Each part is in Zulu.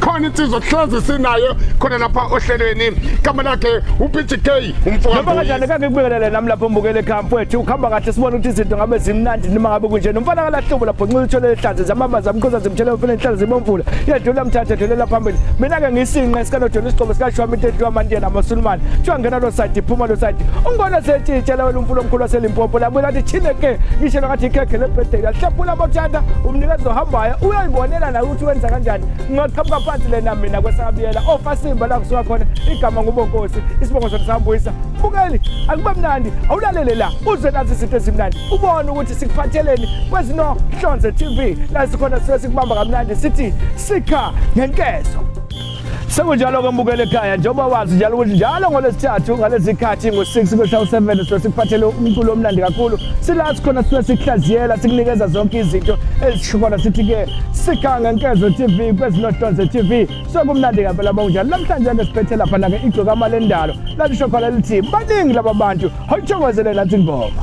khona insizwa kuhlezi sinayo khona lapha ohlelweni igama lakhe uPGK umfoka Noma kanjani kake kubekele nami lapho mbukele ekhaya mfowethu ukhamba kahle sibona ukuthi izinto ngabe zimnandi noma ngabe kunje nomfana kalahlobo lapho nxila uthole ihlaze zamama zamkhoza zimthela umfana inhlalo zibomvula yedlula mthathe dlulela phambili mina ke ngisinqe esikanodona isigqobo sikashwami into edliwa amantiyena amasulumane kuthiwa ngena lo side iphuma lo side ungibona setshitshela wena umfula omkhulu waselimpopo labuye lathi thine ke ngishelwa ngathi ikhekhe lebirthday yahlephula abothanda umnikezi ohambayo uyayibonela naye ukuthi wenza kanjani ngingaqhamuka phansi lena mina kwesakabiyela ofasimba la kusuka khona igama ngubonkosi isibongo sona sambuyisa bukeli akube mnandi awulalele la uze nazi izinto ezimnandi ubone ukuthi sikuphatheleni kwezinohlonze tv la sikhona sisuke sikubamba kamnandi sithi sikha ngenkezo Sekunjalo-ke mbukele ekhaya njengoba wazi njalo ukuthi njalo ngolwesithathu ngalezikhathi ngo-6 kwehla u-7 sibe sikuphathele umculo omnandi kakhulu sila sikhona sibe sikuhlaziyela sikunikeza zonke izinto ezishikhona sithi-ke sikhanga nkezo tv kwezinohlonze tv sekumnandi ngempela bonjalo namhlanje-ke siphethe laphana-ke igcokama lendalo lalisho khona lithi baningi laba bantu hawuthokozele nathi ngoma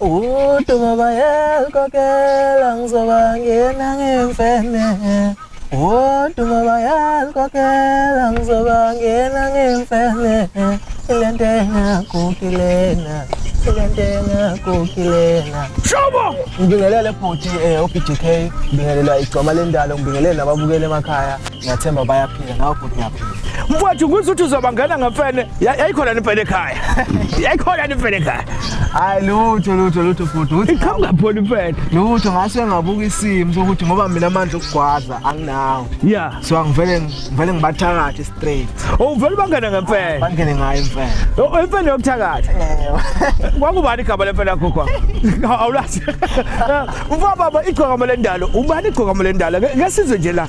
Udumo bayalukokela ngizoba ngena ngemfene Udumo bayalukokela ngizoba ngena ngemfene Ilento engakukilena Ilento engakukilena Shobo! Ngibingelele bhuti eh, OPDK, ngibingelela igcoma lendalo, ngibingelele nababukeli emakhaya. Ngiyathemba bayaphila nawe bhuti ngiyaphila. Mfowethu ngithi uthi uzobangena ngemfene. Yayikhona nempela ekhaya. Yayikhona nempela ekhaya. Hayi lutho lutho lutho bhuti. Uthi iqhamuka pholi impela. Lutho ngase ngabuka isimo sokuthi ngoba mina amandla okugwaza anginawo. Yeah. So angivele ngivele ngibathakathe straight. Oh uvele bangena ngemfene. Bangene ngayo imfene. Oh imfene yokuthakatha. Kwakubani igama lemfene yakho kwa? Awulazi. Mfowethu baba igcokama lendalo. Ubani igcokama lendalo? Ngesizwe nje la.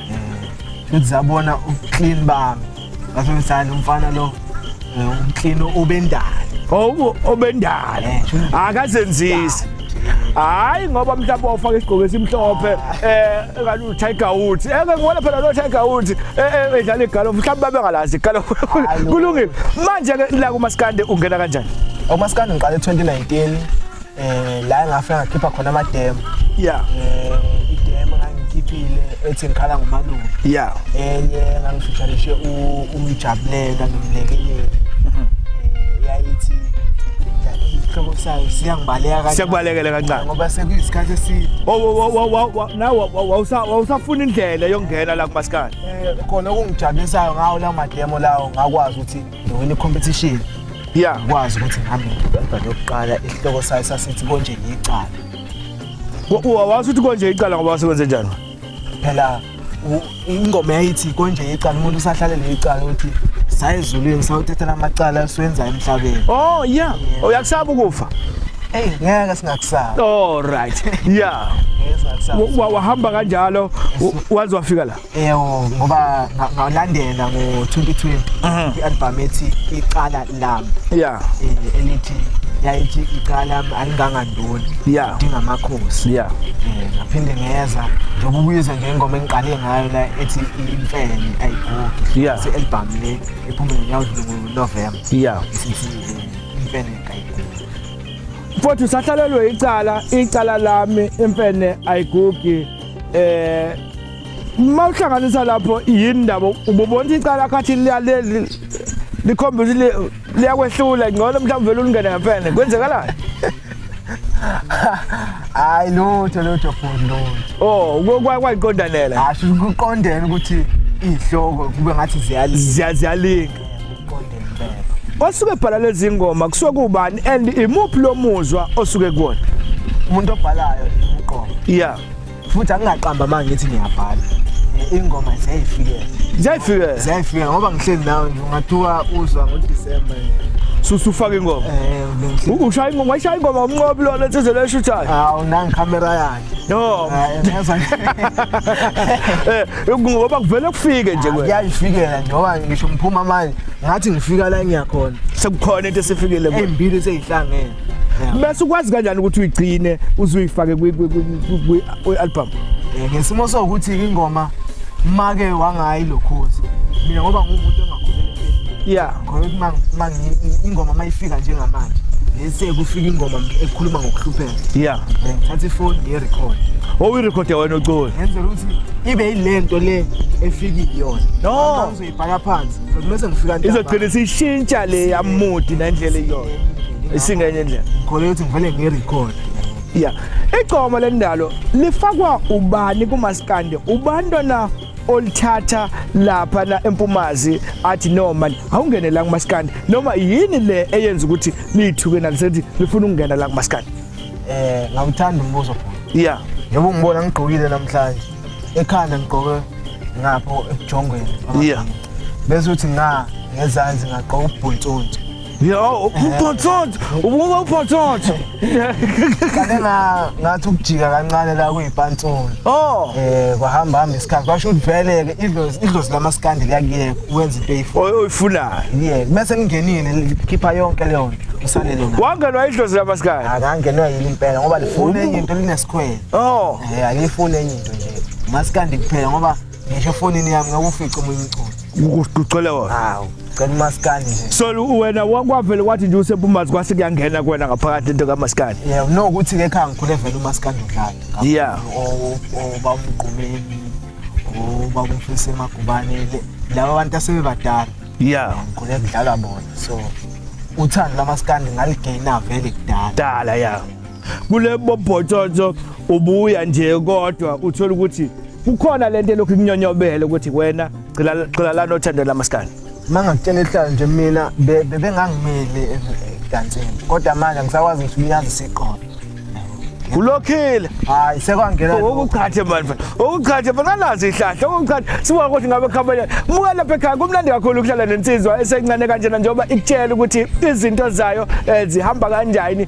futhi zabona uclean bami ngasho ngisani umfana lo eh, umclean obendala obu obendala eh, akazenzisi hayi ngoba mhlawumbe wafaka isigqoko esimhlophe eh kanti uTiger Woods eke eh, ngibona phela lo Tiger Woods eh, eh, edlala igalofu mhlawumbe babengalazi igalofu kulungile manje ke la kumaskande ungena kanjani umaskande ngiqale 2019 eh la ngafika ngakhipha khona amademo yeah eh idemo ngangikhiphile ethi ngikhala ngomalume yeah enye ngangifishanishe umjabulela nomlekeleli mhm. eh yayithi isihlobo sayo siyangibaleka kancane siyakubalekela kancane ngoba sekuyisikhathi eside oh, nawe wawusafuna indlela yokungena la kumasikane eh, khona okungijabulisayo ngawo la mademo lawo ngakwazi ukuthi ngiwina i-competition ya ngikwazi ukuthi ngihambe ngibamba lokuqala isihloko sayo sasithi konje ngiyicala wawazi ukuthi konje icala ngoba wasekwenze njani phela u- ingoma yayithi konje ngiyicala umuntu usahlale ngiyicala ukuthi saye ezulwini sawuthathela amacala esiwenzayo emhlabeni oh ya uyakusaba ukufa eyi ngeke singakusaba all right ya ngeke singakusaba Wa- wa- wahamba kanjalo wa- waze wafika la Ewo ngoba nga- ngalandela ngo-2020 Mhm. i-albhamu ethi icala lami ya eh, elithi yayithi icala lami alingangandoni Ya. idinga amakhosi ya Eh, ngaphinde ngeza njengoba ubuyiza nje ingoma engiqale ngayo la ethi imfene ayigugi Ya. se-albhamu le ephume ngonyawudlule ngonovemba ya isithi eh, imfene kayigugi futhi usahlalelwe icala icala lami imfene ayigugi eh uma uhlanganisa lapho yini ndaba ububona icala khathi liyaleli likhomba ukuthi liyakwehlula ngcono mhlawumbe vele ulingene ngempela kwenzekalani hayi lutho lutho futhi lutho oh kwayiqondanela hasho kuqondene ukuthi izihloko kube ngathi ziyalinga ziyalinga osuke ebhala lezi ngoma kusuke kubani and imuphi lo muzwa osuke kuwona umuntu obhalayo uqobo yeah futhi angingaqamba uma ngithi ngiyabhala ingoma ziyayifikela ziyayifikela ziyayifikela ngoba ngihleli nawe nje ungathiwa uzwa ngodisemba susufaka ingoma eh, ushaya ingoma wayishaya ingoma umnqobi lona ethezele eshuthayo hawu nangi camera yakhe no eh, eh ngoba kuvele kufike nje kwena kuyayifikela nje ngoba ngisho ngiphuma manje ngathi ngifika la engiyakhona sekukhona into esifikile kuwe embili seyihlangene bese ukwazi kanjani ukuthi uyigcine uzuyifake kwi-album eh, ngesimo sokuthi ingoma make wangayi lokhozi mina ngoba ngumuntu ongakhulelekile ya ngoba ingoma mayifika njengamanje lese kufika ingoma ekhuluma ngokuhlupheka ya eh, ngithatha ifoni ngiyirekhode owuyirekhode wena ucula ngenzela ukuthi ibe yilento le efikile yona no Bhaka phansi. Ngizomese ngifika ntambama. Izogcina isishintsha le yamudi nendlela iyona. Isingenye indlela. Khona ukuthi ngivele ngirecord. Yeah. Igcoma lendalo lifakwa ubani kumaskande? Ubantwana olithatha lapha na empumazi athi no man awungene la kumaskandi noma yini le eyenza ukuthi liyithuke nalisethi lifuna ukungena la kumaskandi eh ngawuthanda umbuzo yeah njengoba ungibona ngigqokile namhlanje ekhanda ngigqoke ngapho ejongweni yeah bese uthi nga ngezansi ngagqoka ubhontsonto yo ubhontsonto ubuka ubhontsonto kale nga ngathi ukujika kancane la kuyipantsolo oh eh kwahamba hamba isikhathi kwasho ukuthi vele ke idlozi idlozi lamaskandi liyakuyeka wenza into eyifunayo oyifunayo yeah bese ngingenile ngikhipha yonke leyo nto usalele na wangenwa idlozi lamaskandi akangenwa yini impela ngoba lifuna into linesikhwele Oh, eh angifuni enye into nje. Maskandi kuphela ngoba ngisho efonini yami ngakufica omunye umculo. Ukucela wona. Hawu, cela umaskandi nje. So wena wakwavele wathi nje usebumazi kwase kuyangena kuwena ngaphakathi into kamaskandi. Yeah, no ukuthi ke khanga ngikhule vele umaskandi udlala. Yeah. Oh, oh bamgqumeni. Oh, bamfisa emagubane laba abantu asebebadala. Yeah. Ngikhule kudlala bona. So uthando lamaskandi ngaligaina vele kudala. Dala yeah. kule bobhotshotsho ubuya nje kodwa uthola ukuthi kukhona lento elokhu ikunyonyobele ukuthi wena gcila gcila lana othando lamaskani mangakutshela ihlala nje mina be- bebengangimeli eh, ekansini kodwa manje ngisakwazi ukuthi uyazi siqobo ulokhile hayi sekwangena lokho. okuqhathe manje okuqhathe manje anazi ihlahla okuqhathe sibuka ukuthi ngabe khabanya muka lapha ekhaya kumnandi kakhulu ukuhlala nensizwa esencane kanjena njengoba ikutshela ukuthi izinto zayo eh, zihamba kanjani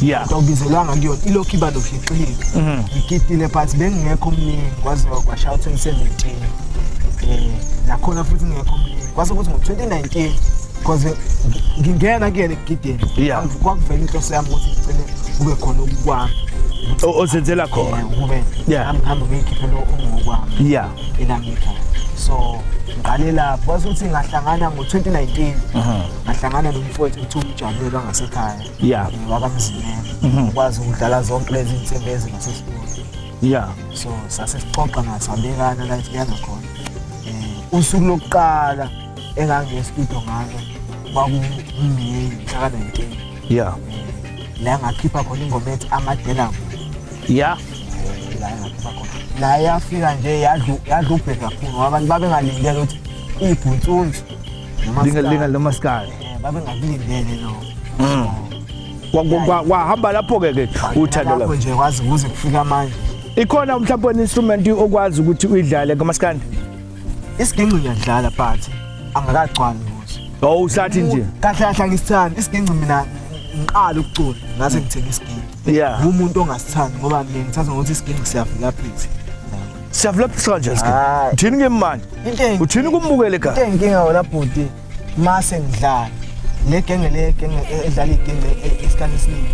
yeah awubizelwanga kuyona ilokhu iba nohliqilika mhm. ngikitile but bengingekho omningi kwaze kwashaya 2017 um nakhona futhi ngingekho omningi kwase kuthi ngo-2019 because ngingena kuyena ekugideni kwakuvela inhloso yami ukuthi ngicele kube khona okukwami ozenzela khona kube ngihambe ngiyikhiphe lo ungokwami ya elangikhaya so ngiqale lapho kwase ukuthi ngahlangana ngo-2019 ngahlangana nomfowethu kuthiwa umjabulela ngasekhaya yeah wakamzimela mhm. ukwazi ukudlala zonke lezi insimbi ezingathi studio yeah so sase sixoxa ngasabekana la siyana khona eh usuku lokuqala engangiye studio ngalo kwakuyiyi mhla 19 yeah la ngakhipha khona ingoma ethi amadela yeah la ngakhipha khona la yafika nje yadlu yadlu ubheka kakhulu abantu babengalindele ukuthi ibhuntsuni noma linga linga lomaskali eh, babengakulindele no mm. kwahamba lapho-ke ke uthando lapho nje kwazi kuze kufika manje ikhona mhlawumbe one-instrument okwazi ukuthi uyidlale kamasikandi isiginci ngiyadlala but angakagcwali kuso oh usathi nje kahle kahle angisithandi isiginci mina ngiqala ukucula ngase ngithenga isiginci yeah umuntu ongasithandi ngoba mina ngithatha ngokuthi isiginci siyavela phansi siyavula phisa kanjani sike uthini ke manje uthini kumbukele ka inkinga wona bhuti mase ngidlala le genge le genge e- edlala igenge e- isikhathi esiningi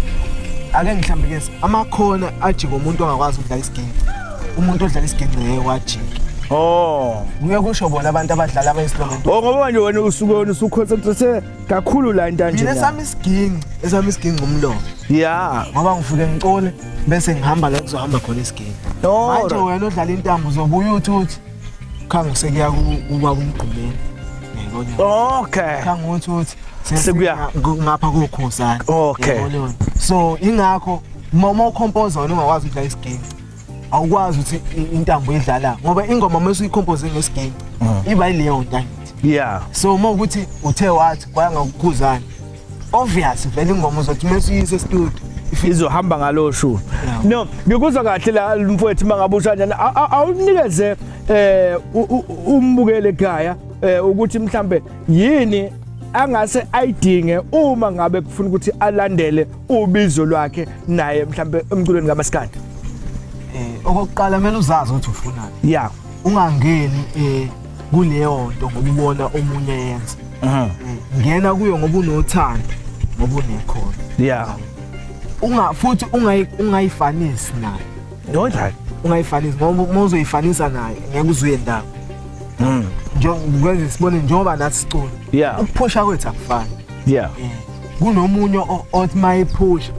ake ngihlambe ke amakhona ajika umuntu ongakwazi ukudlala isigenge umuntu odlala isigenge ngeke wajika Oh. kuye kusho bona abantu abadlala abayinstrument Oh ngoba manje wena usuke wena usuconcentrate kakhulu la into kanje. mina la. sami isiginci esami isiginci umlomo Yeah. ngoba ngifike ngicole bese ngihamba la kuzohamba khona isiginci Oh. manje wena odlala intambo uzobuya uthi uthi khangu sekuya kuba kumgqumeni ngiyabona okay khangu uthi uthi sekuya ngapha kokhosana okay so ingakho mama ukhompoza wena ungakwazi ukudlala isiginci awukwazi ukuthi intambo idlala ngoba ingoma uma usuyikhompoze ngesiginci mm. iba yileyo ntangithi yeah so uma ukuthi uthe wathi kwayangakukuzana obvious vele ingoma uzothi mase uyise studio izohamba ngalo shu no ngikuzwa kahle la mfowethu mangabe ushanyana awunikeze eh umbukele ekhaya eh, ukuthi mhlambe yini angase ayidinge uma ngabe kufuna ukuthi alandele ubizo lwakhe naye mhlambe emculweni kamaskandi eh okokuqala kumele uzazi ukuthi ufunani yeah ungangeni eh kuleyo nto ngoba ubona omunye yenza Mhm. Eh, ngena kuyo ngoba unothando ngoba unekhono Yeah. unga futhi ungayi- ungayifanisi nayo Yonjani? ungayifanisi ngoba uma uzoyifanisa nayo ngeke uzuye ndawo Mm. njengoba sibone njengoba nathi sicula Yeah. ukuphusha kwethu akufani Yeah. Eh, kunomunye othi mayiphusha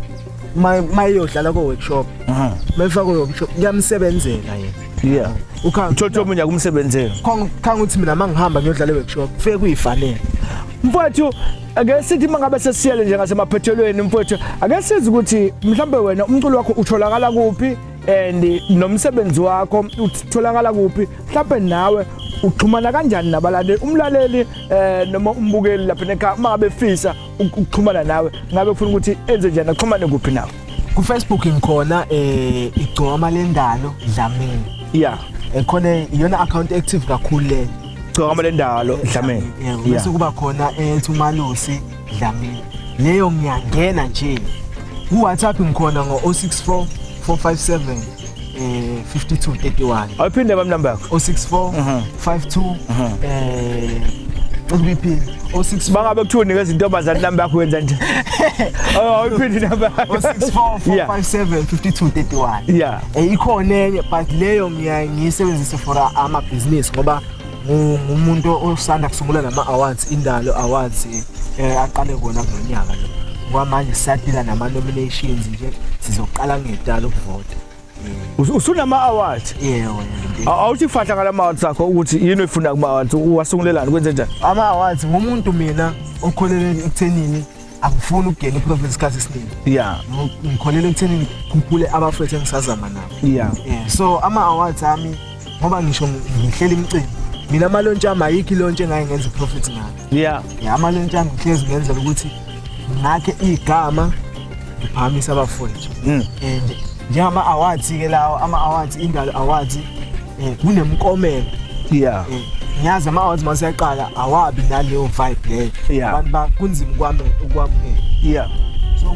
mayeyodlala ko-workshop mayifakwe workshop kuyamsebenzela yena yeah ukhanga uthola omunye akumsebenzela khanga uthi mina mangihamba ngiyodlala e-workshop kufike kuyifanele mfowethu ake sithi mangabe sesiyele nje ngasemaphethelweni mfowethu ake sizi ukuthi mhlambe wena umculo wakho utholakala kuphi and nomsebenzi wakho utholakala kuphi mhlambe nawe uxhumana kanjani nabalaleli umlaleli eh noma umbukeli lapha nekhaya uma befisa ukuxhumana nawe ngabe ufuna ukuthi enze njani axhumane kuphi nawe ku Facebook ngikhona eh igcoma lendalo Dlamini yeah ekhona eh, iyona account active kakhulu le igcoma lendalo Dlamini yeah bese kuba khona ethi eh, uMalusi Dlamini leyo ngiyangena nje ku WhatsApp ngikhona ngo 064 457 eh 5231 awuphinde bami number yakho 064 52 eh ukuyiphi o6 bangabe kuthiwa unika izintombazane number yakho wenza nje awuphinde number yakho 064 yeah eh ikhona enye but leyo ngiyayisebenzisa for ama business ngoba ngumuntu osanda kusungula lama awards indalo awards eh aqale kona kulonyaka lo kwamanje siyaphila nama nominations nje sizoqala ngedalo ukuvota usunama awards yebo awuthi fahla ngala awards akho ukuthi yini oyifuna kuma awards wasungulelani kwenze njani ama awards ngumuntu mina okholeleni ekuthenini angifuni ukugena iprofit isikhathi esiningi yeah ngikholelwa ekutheni ngikhuphule abafethu engisazama nabo yeah eh, so ama awards ami ngoba ngisho ngihlela imicimbi mina amalontsha ami ayikho ilontsha engaye ngenza iprofit ngayo yeah yeah amalontsha ami ngihlezi ngenzela ukuthi ngakhe igama ngiphakamisa abafethu mm. and njengama awards ke lawo ama awards indalo awards eh, kunemkomelo yeah eh, ngiyazi ama-awards uma siyaqala awabi naleyo vibe leyo yeah. abantu ba kunzima ukwamukela ukwamukela yeah so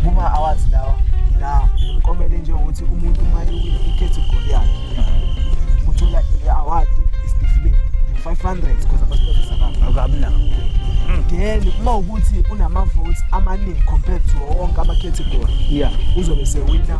kuma-awards lawa la umkomele njengokuthi umuntu uma ikhethegory yakhe uh-huh. uthola i-award isitifiketi 500 because abasipotisa abantu akamnako then uma ukuthi unama-votes amaningi compared to wonke amakhethegory yeah uzobe sewina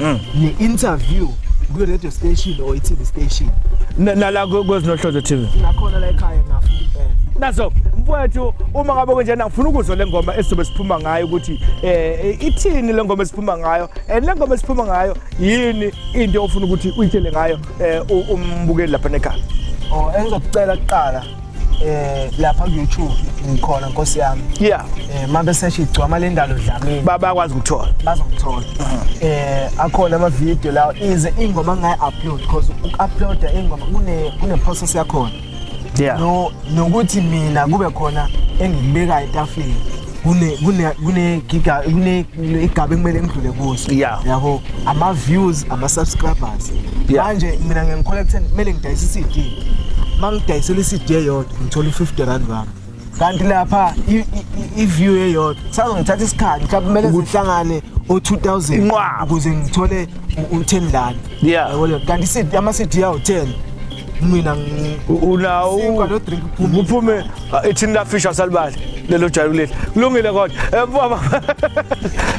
mm. ne interview kwi radio station or i TV station nala kwezinohlozo TV nakhona la ekhaya ngafuna impela naso mfowethu uma ngabe kunjena ngifuna ukuzwa le ngoma esizobe siphuma ngayo ukuthi eh ithini le ngoma esiphuma ngayo and le ngoma esiphuma ngayo yini into ofuna ukuthi uyitshele ngayo eh umbukeli lapha nekhaya oh engizokucela kuqala eh lapha ku YouTube ngikhona nkosi yami yeah eh mabe seshi igcwama lendalo dlamini baba kwazi ukuthola bazokuthola eh akhona ama video lawo ize ingoma ngayi upload because uk upload ingoma kune kune process yakhona yeah no nokuthi mina kube khona engibeka etafini kune kune kune giga kune igaba ekumele ngidlule kuso yeah. yabo ama views ama subscribers yeah. manje mina ngiya collect kumele ngidayise CD mangidayisela CD eyodwa ngithola u50 rand wami kanti lapha i view eyodwa sazongithatha isikhathi mhlawumbe kumele ngihlangane o2000 inqwaba ukuze ngithole u10 rand yeah kanti ama CD yawo 10 mina unawo kuphume ah, ithini la fish asalibali lelo jayu leli kulungile kodwa eh, baba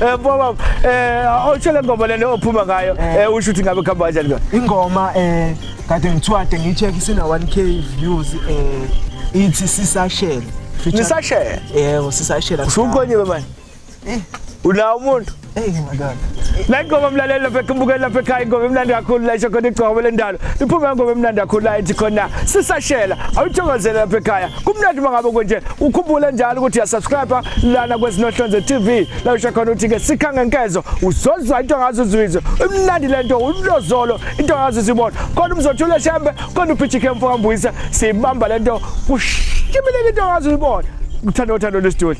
eh, baba eh awushele ah, ngoma lena ophuma ngayo eh. eh usho ukuthi ngabe khamba kanjani kodwa ingoma eh kade ngithwade ngicheck isina 1k views eh ithi sisashela nisashela yebo sisashela usukonyiwe manje Eh. Ula umuntu. Hey madoda. La ingoma mlaleli lapha ekubukela lapha ekhaya ingoma emnandi kakhulu la isho khona igcobo lendalo. Iphuma ingoma emnandi kakhulu la ethi khona sisashela. Awuthokozele lapha ekhaya. Kumnandi mangabe konje ukhumbule njalo ukuthi uyasubscribe lana kwezinohlonze TV. La usho khona ukuthi ke sikha ngenkezo uzozwa into ngazo uzwizwe. Imnandi lento ulozolo into ngazo uzibona. Khona umzothula shembe, khona uphijike mfo kambuyisa. Sibamba lento kushimile into ngazo uzibona. Uthando uthando lesitori.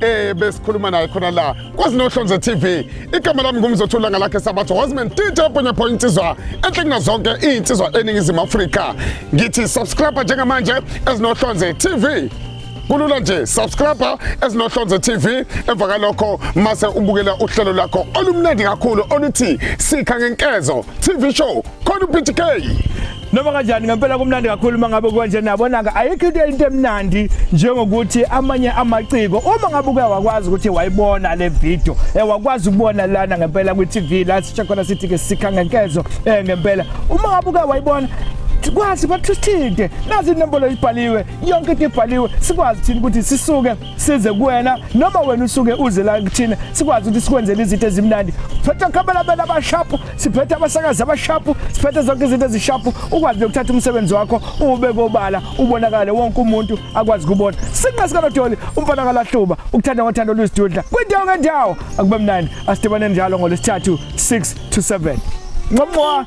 eh besikhuluma naye khona la kwazi nohlonze TV igama lami ngumzothula ngalakhe sabatho wasman DJ Bonya Boy insizwa enhle kunazonke insizwa eningizimu Afrika ngithi subscribe njengamanje ezinohlonze TV kulula nje subscribe ezinohlonze TV emva kalokho mase ubukela uhlelo lakho olumnandi kakhulu oluthi sikha ngenkezo TV show khona uPTK noma kanjani ngempela kumnandi kakhulu uma ngabe kwanje nabona-ke ayikho into into emnandi njengokuthi amanye amaciko uma ngabe uke wakwazi ukuthi wayibona le video um wakwazi ukubona lana ngempela kwi-tv la sisho khona sithi-ke sikha ngenkezo um eh, ngempela uma ngabe uke wayibona kwazi bathusithinte nazi inombolo ibhaliwe yonke into ibhaliwe sikwazi thina ukuthi sisuke size kuwena noma wena usuke uze la kuthina sikwazi ukuthi sikwenzele izinto ezimnandi phethe okhabalabela abashapu siphethe abasakazi abashapu siphethe zonke izinto ezishapu ukwazi nokuthatha umsebenzi wakho ube kobala ubonakale wonke umuntu akwazi kubona sinqa sikanodoli umfana kalahluba ukuthanda ngothando lwizidudla kwindawo ngendawo akube mnandi asidibane njalo ngolesithathu 6 to 7 nqomwa